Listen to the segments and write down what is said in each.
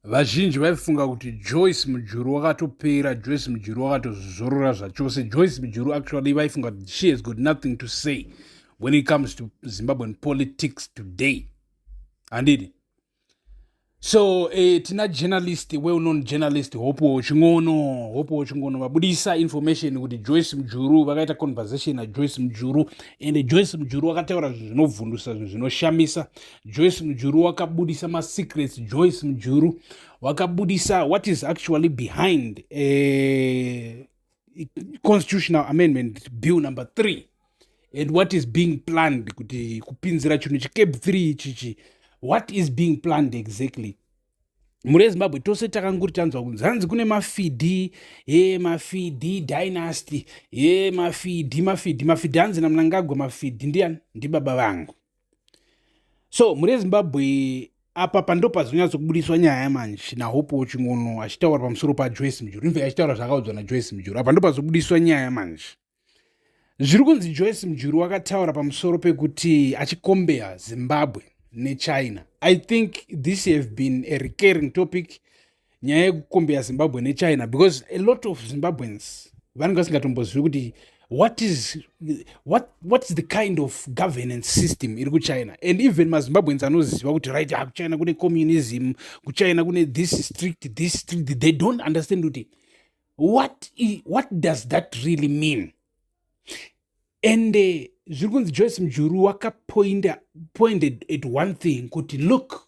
vazhinji vaifunga kuti joyce mujuru wakatopera joyce mujuru wakatozvizorora zvachose joyce mujuru actually vaifunga kuti she has got nothing to say when it comes to zimbabwean politics today handidi so eh, tina journalist well known journalist hopo chingono hopo chingono vabudisa information kuti joyce mujuru vakaita conversation najoyce mujuru and joyce mujuru vakataura zvinhu zvinovhundusa zvinhu zvinoshamisa Joyce Mujuru wakabudisa masecrets Joyce Mujuru wakabudisa what is actually behind a constitutional amendment bill number three and what is being planned kuti kupinzira chinhu chicab three ichichi what is being planned exactly mhuri yezimbabwe tose takanguri tanzwa kunzi hanzi kune mafidi e mafidi dynasty e mafidi mafidi mafidi hanzi namnangagwa mafidi ndiyani ndibaba vangu so mhuri yezimbabwe apa pando pazonyatsokubudiswa nyaya manje nahope wachingono achitaura pamusoro pajoyce mujuru infact achitaura zvaakaudzwa najoyce mujuru apa ndopazobudiswa nyaya manje zviri kunzi joyce mujuru wakataura pamusoro pekuti achikombeya zimbabwe nechina i think this have been a recurring topic nyaya yekukombera zimbabwe nechina because a lot of zimbabweans vanenge vasingatombozivi kuti what is, what, what is the kind of governance system iri kuchina and even mazimbabweans anoziva kuti right ah, kuchina kune communism kuchina kune this strict this strict they don't understand kuti what, what does that really mean and eh, zviri kunzi joyce mjuru wakapointed at one thing kuti look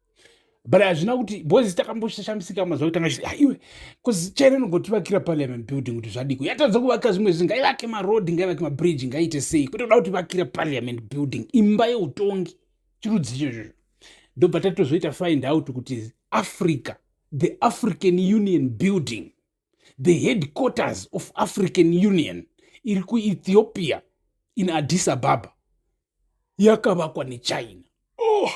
but hazvina kuti bcoz takamboshamisika mazuva kutanga chiti aiwe bcoz china inogotivakira parliament building kuti zvadiko yatadza kuvakira zvimwe zvinhu ngaivake maroad ngaivake mabridge ngaite sei kwete kuda kutivakira parliament building imba yeutongi chirudzi ichocho ndobva tatitozoita find out kuti africa the african union building the headquarters of african union iri kuethiopia in addis ababa yakavakwa nechina oh.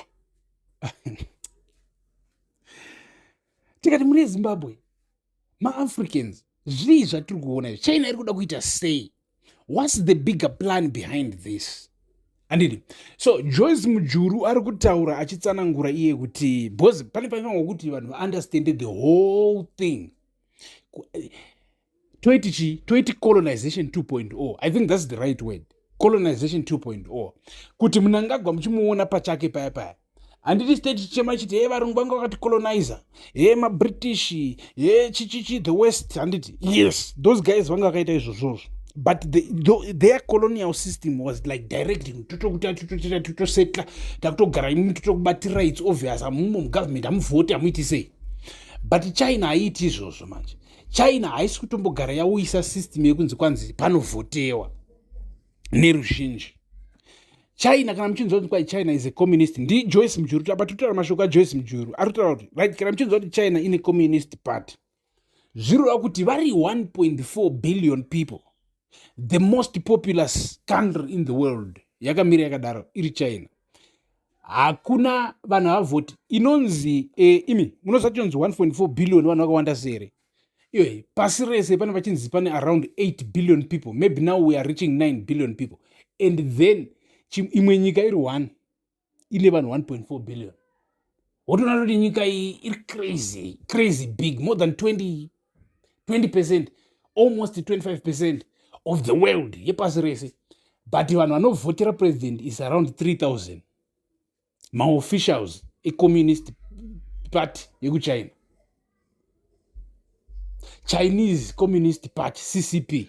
tikati muri ezimbabwe maafricans zvii zvatiri kuona china iri kuda kuita sei whats the bigger plan behind this andidi so joyce mujuru ari kutaura achitsanangura iye kuti bcause pane paifanwa kuti vanhu vaunderstande the whole thing eh, toiti chii toiti colonization 2.0 i think thats the right word colonization 2.0 kuti munangagwa muchimuona pachake paya paya handiti site tichema chiti hee varungu vanga vakaticolonizer hee mabritish hee chichichi the west handiti yes those guys vanga vakaita izvozvozvo but the, the, their colonial system was like directing totokuti atitotoita totosetla takutogara imimi totokubatira its obvious amumo mugovernment hamuvhoti hamuiti sei but china haiiti izvozvo manje china haisi kutombogara yauyisa system yekunzi kwanzi panovhotewa neruzhinji china kana muchinzwa kuti kwai china is a communist ndijoyce mujuru apa totaura mashoko ajoyce mujuru ari kutaura kuti right kana muchinzwa kuti china ine communist party zvirova kuti vari 1.4 billion people the most populous country in the world yakamira yakadaro iri china hakuna vanhu havavhoti inonzi e, imi munoziva tinonzi 1.4 billion vanhu vakawanda sere iwe pasi rese pane vachinzi pane around 8 billion people maybe now we are reaching 9 billion people and then imwe nyika iri one ine vanhu 1.4 billion wotoona kuti nyika iyi iri crazy crazy big more than 20 20 percent almost 25 percent of the world yepasi rese but vanhu vanovhotera president is around 3000 maofficials ecommunist party yekuchina chinese communist party ccp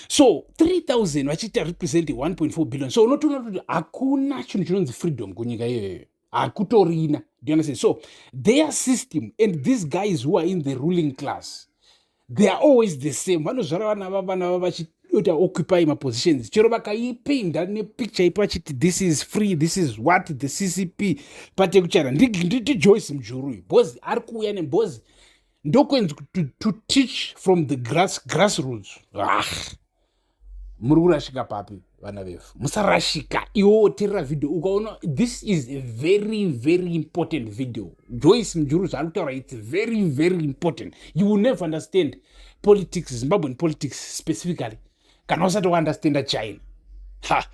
so 3000 vachiita represent 1.4 billion so unotoona kuti hakuna chinhu chinonzi freedom kunyika iyoyo hakutorina do you understand so their system and these guys who are in the ruling class they are always the same vanozvara vana vavana vava vachiita occupy mapositions chero vakaipinda nepicture ipo vachiti this is free this is what the ccp pate kuchara ndijoyce mujuru uyu bhozi ari kuuya nebhozi ndokwenzi to, to teach from the grass, grass roots ah. muri kurashika papi vana vefu musarashika iwo woterera video ukaona this is a very very important video joyce mujuru zvaari kutaura its very very important you will never understand politics zimbabwean politics specifically kana usati waunderstanda china ha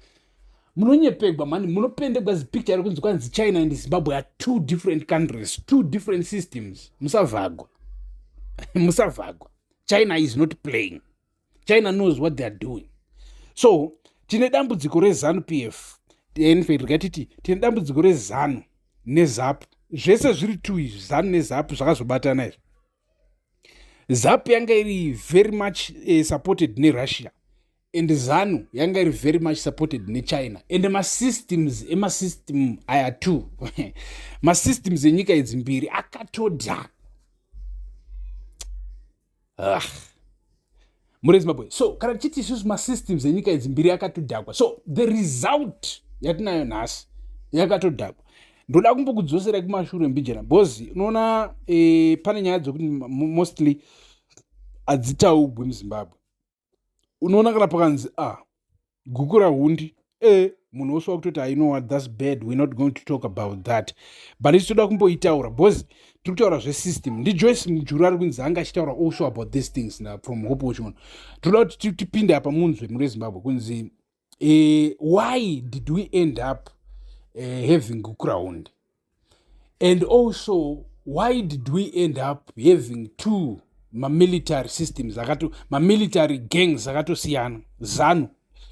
munonyepegwa mani munopendegwa zipicture iri kunzi kwanzi china and zimbabwe are two different countries two different systems musavhagwa musavhagwa china is not playing china knows what theyare doing so tine dambudziko rezanu p f enfact gatiti tine dambudziko rezanu nezapu zvese zviri two izvi zanu nezapu zvakazobatana izvi zapu yanga iri very much uh, supported nerussia and zanu yanga iri very much supported nechina and masystems emasystem aya two masystems enyika idzi mbiri akatodhaka ah. muri zimbabwe so kana tichiti isusu masystems enyika idzi mbiri yakatodhakwa so the result yatinayo nhasi yakatodhakwa ndoda kumbokudzoserai kumashure mbijana bcoz unoona e, pane nyaya dzokuti mostly hadzitaugwi muzimbabwe unoona kana pakanzi a ah, gukura hundi e munhu wose wakutoti i know what thats bad we're not going to talk about that but isi toda kumboitaura bcause tiri kutaura zvesystem ndijoyce mujuru ari kunzi anga achitaura also about these things na from hope wachimono tinoda kuti tipinde apa munzwe mune zimbabwe kunzi uh, why did we end up uh, having ground and also why did we end up having two mamilitary systems akato mamilitary gangs akatosiyana zanu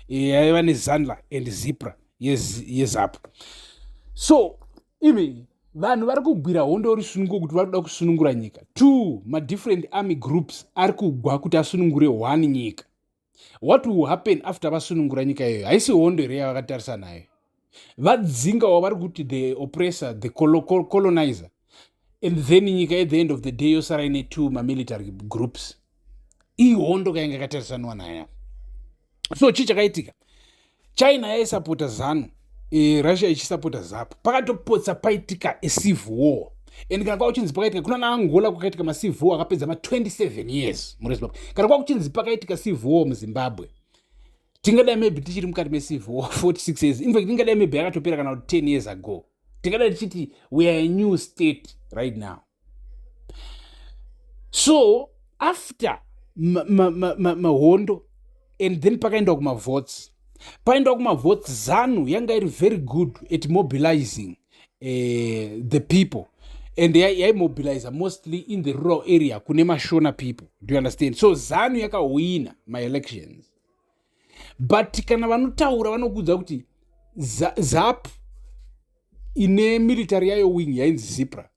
eh, yaiva nezanla and zipra yezapu yes, so imi vanhu vari kugwira hondo uri sununguko kuti vari kuda kusunungura nyika two madifferent army groups ari kugwa kuti asunungure one nyika what will happen after vasunungura nyika iyoyo haisi hondo here yavakatarisa nayo vadzinga wavari kuti the oppressor the colonizer and then nyika at the end of the day yosara ine two mamilitary groups ihondo kainge katarisaniwa nayo so chii chakaitika china yaisapota zanu e, russia ichisapota zapu pakatopotsa paitika ecivil war and kana kwakuchinzi pakaitika kuna naangola kwakaitika macivil war akapedza ma27 years mune zimbabwe kana kwakuchinzi pakaitika civil war muzimbabwe tingadai maybe tichiri mukati mecivil war 46 years infact tingadai maybe akatopera kana kuti 10 years ago tingadai tichiti weare a new state right now so after mahondo ma, ma, ma and then pakaendwa kumavotes paendwa kumavotes zanu yanga iri very good at mobilizing uh, the people and yaimobilize mostly in the rural area kune mashona people do you understand so zanu yakahwina maelections but kana vanotaura vanokuudza kuti zap ine military yayo wing yainzi zipra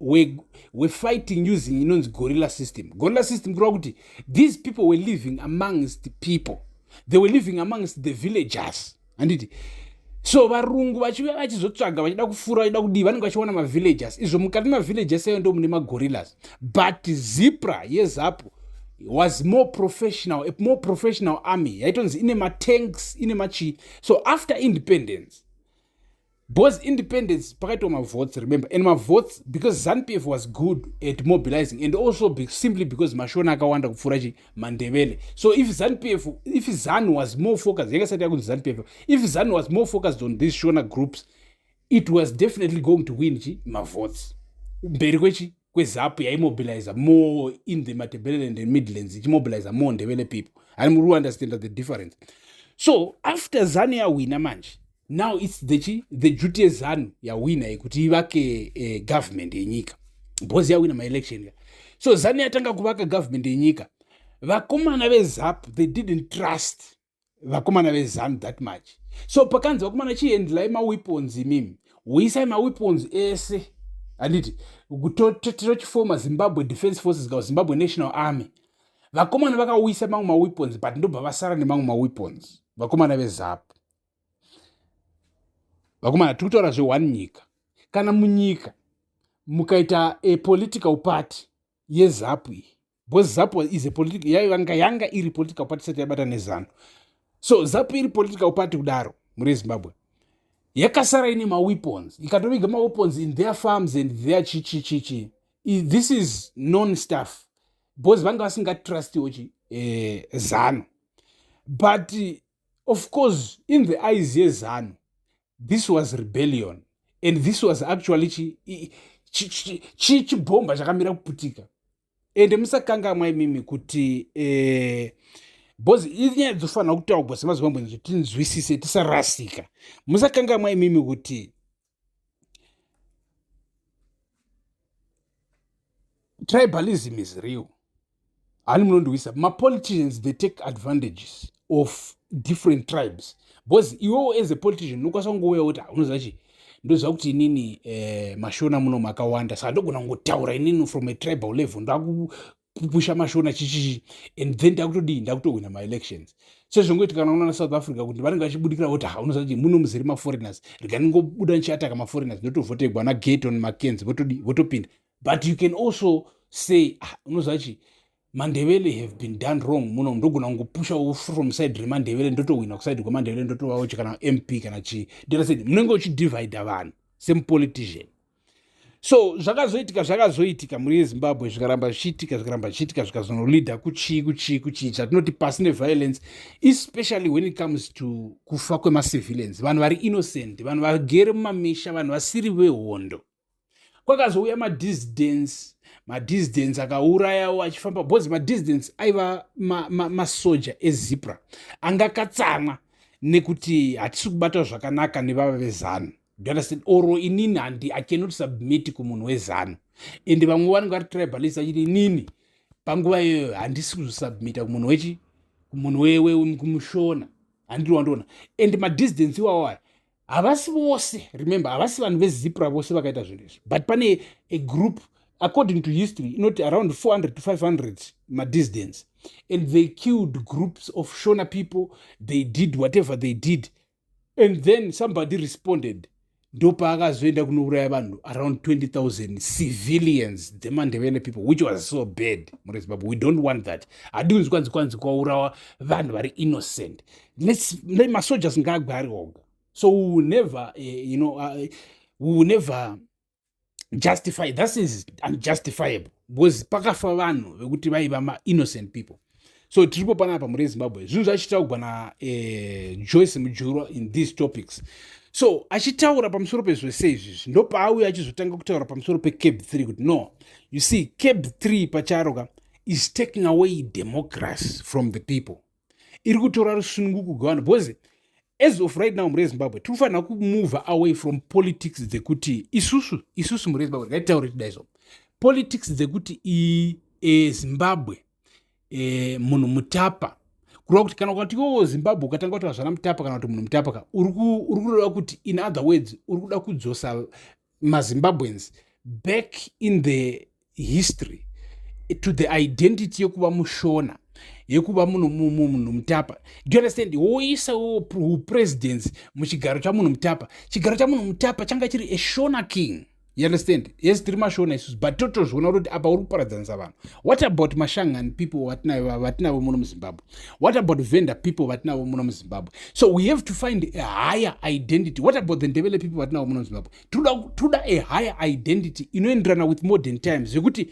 we, we fighting using inonzi gorilla system gorilla system kureva kuti these people were living amongst the people they were living amongst the villagers handiti so varungu vachiuya vachizotsvaga vachida kufura vachida kudii vanenge vachiona mavillagers izvo mukati mavillagers ayo ndo mune magorillas but zipra yezapu was more professional a more professional army yaitonzi ine matanks ine machii so after independence Because independence pakaitwa mavotes remember and mavotes because zanupf was good at mobilizing and also be, simply because mashona akawanda kupfuura chi mandevele so if zanupf if zanu was more focused yanga sati yakunzi zanupf if zanu was more focused on these shona groups it was definitely going to win chi mavotes mberi kwechi kwezapu yaimobiliza more in the matebeleland and midlands ichimobiliza more ndevele people ani muri understand the difference so after zanu yawina manje now its the chi the duty yezanu yawina yekuti ivake eh, government yenyika bhozi yawina maelection ka so zanu yatanga kuvaka government yenyika vakomana vezapu they didn't trust vakomana vezanu that much so pakanzi vakomana chiendlai maweapons imimi huisai maweapons ese handiti tochifoma zimbabwe defense forces ka zimbabwe national army vakomana vakauyisa mamwe maweapons but ndobva vasara nemamwe maweapons vakomana vezapu vakomana tiri kutaura zveone nyika kana munyika mukaita a political party yezapu iyi because zapu is a political yanga yanga iri political party sati yabata nezano so zapu iri political party kudaro muri zimbabwe yakasara ine maweapons ikatoviga maweapons in their farms and their chichichichi this is non staff because vanga vasingatrustiwo chi eh, zano but Of course in the eyes yezanu this was rebellion and this was actually chibhomba chi, chi, chi chakamira kuputika ende musakangamwa imimi kuti eh, bcoz inyaya dzofanira kutaugwa semazimbabwe nzi tinzwisise tisarasika musakangamwa imimi kuti tribalism is real hani munondiwisa mapoliticians they take advantages of different tribes because iwewo as a politician unokwanisa kungouya kuti ah, unoziva chii ndoziva kuti inini eh, mashona muno makawanda saka ndogona kungotaura inini from a tribal level ndaku kupusha mashona chichichi and then ndakutodii ndakutohwina maelections sezvongoitika kana unoona south africa kuti vanenge vachibudikira voti ha unoziva kuti muno muzere maforeigners rega ndingobuda ndichiataka maforeigners ndotovhotegwa nageton makenzi votodii votopinda but you can also say ah, unoziva chii mandevele have been done wrong muno ndogona kungopushawo from side remandevele ndotohwina kuside kwemandevele ndotovawo chi kana mp kana chii ndirasaid munenge uchidivhaidha vanhu semupolitician so zvakazoitika zvakazoitika mhuri yezimbabwe zvikaramba zvichiitika zvikaramba zvichiitika zvikazonoleader kuchii kuchii kuchii chatinoti pasi neviolence especially when it comes to kufa kwemacivilians vanhu vari innocent vanhu vagere mumamisha vanhu vasiri vehondo kwakazouya madisdence madisdence akaurayawo achifamba bcause madisdence aiva masoja ma, ma ezipra anga akatsamwa nekuti hatisi kubatwa zvakanaka nevava vezanu do understand or inini handi i cannot submit kumunhu wezanu and vamwe vanenge vari tribalist vachiti inini panguva iyoyo handisi kuzosubmita kumunhu wechi kumunhu wekumushona handiri wandiona and madistance iwawo aya havasi vose remember havasi vanhu vezipra vose vakaita zvinhu izvi but pane a group according to history inoti around 400 to 500 madistance and they killed groups of shona people they did whatever they did and then somebody responded ndopaakazoenda kunouraya vanhu around 20000 civilians dzemandevele people which was so bad mure zimbabwe we don't want that hadi kunzi kwanzi kwanzi kwaurawa vanhu vari innocent masojas ngaagwe ari oga so we will never uh, you know uh, we will never justify that is unjustifiable because pakafa vanhu vekuti vaiva mainnocent people so tiripo panapa muri ezimbabwe zvinhu zvachitaugwa na eh, joyce mujurwa in these topics so achitaura pamusoro pezvese izvizvi ndopaauya achizotanga kutaura pamusoro pecab 3 kuti no you see cab 3 pacharo ka is taking away democracy from the people iri kutora rusununguko gwevanhu because as of right now mhuri yezimbabwe tiri kufanira kumove away from politics dzekuti isusu isusu mhuri yezimbabwe ngaitaure tidaizvo politics dzekuti iyi e, zimbabwe e, munhu mutapa kureva kuti kana ukati iwowo zimbabwe ukatanga kuti vazvana mutapa kana kuti munhu mutapa ka uri kureva kuti in other words uri kuda kudzosa mazimbabweans back in the history to the identity yekuva mushona yekuva munhu munhu mutapa do you understand woisa upresidency muchigaro chamunhu mutapa chigaro chamunhu mutapa changa chiri eshona king you understand yes tiri mashona isusu but totozviona kuti apa uri kuparadzanisa vanhu what about mashangani people vatinavo vatinavo muno muzimbabwe what about vendor people vatinavo muno muzimbabwe so we have to find a higher identity what about the ndevele people vatinavo muno muzimbabwe toda a higher identity inoenderana with modern times zvekuti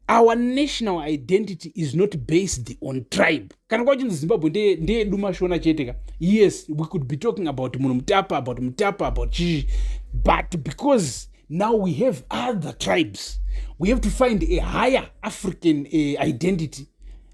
our national identity is not based on tribe kana kwachinzi zimbabwe ndeyedu mashona chete ka yes we could be talking about munhu mutapa about mutapa about chii but because now we have other tribes we have to find a higher african uh, identity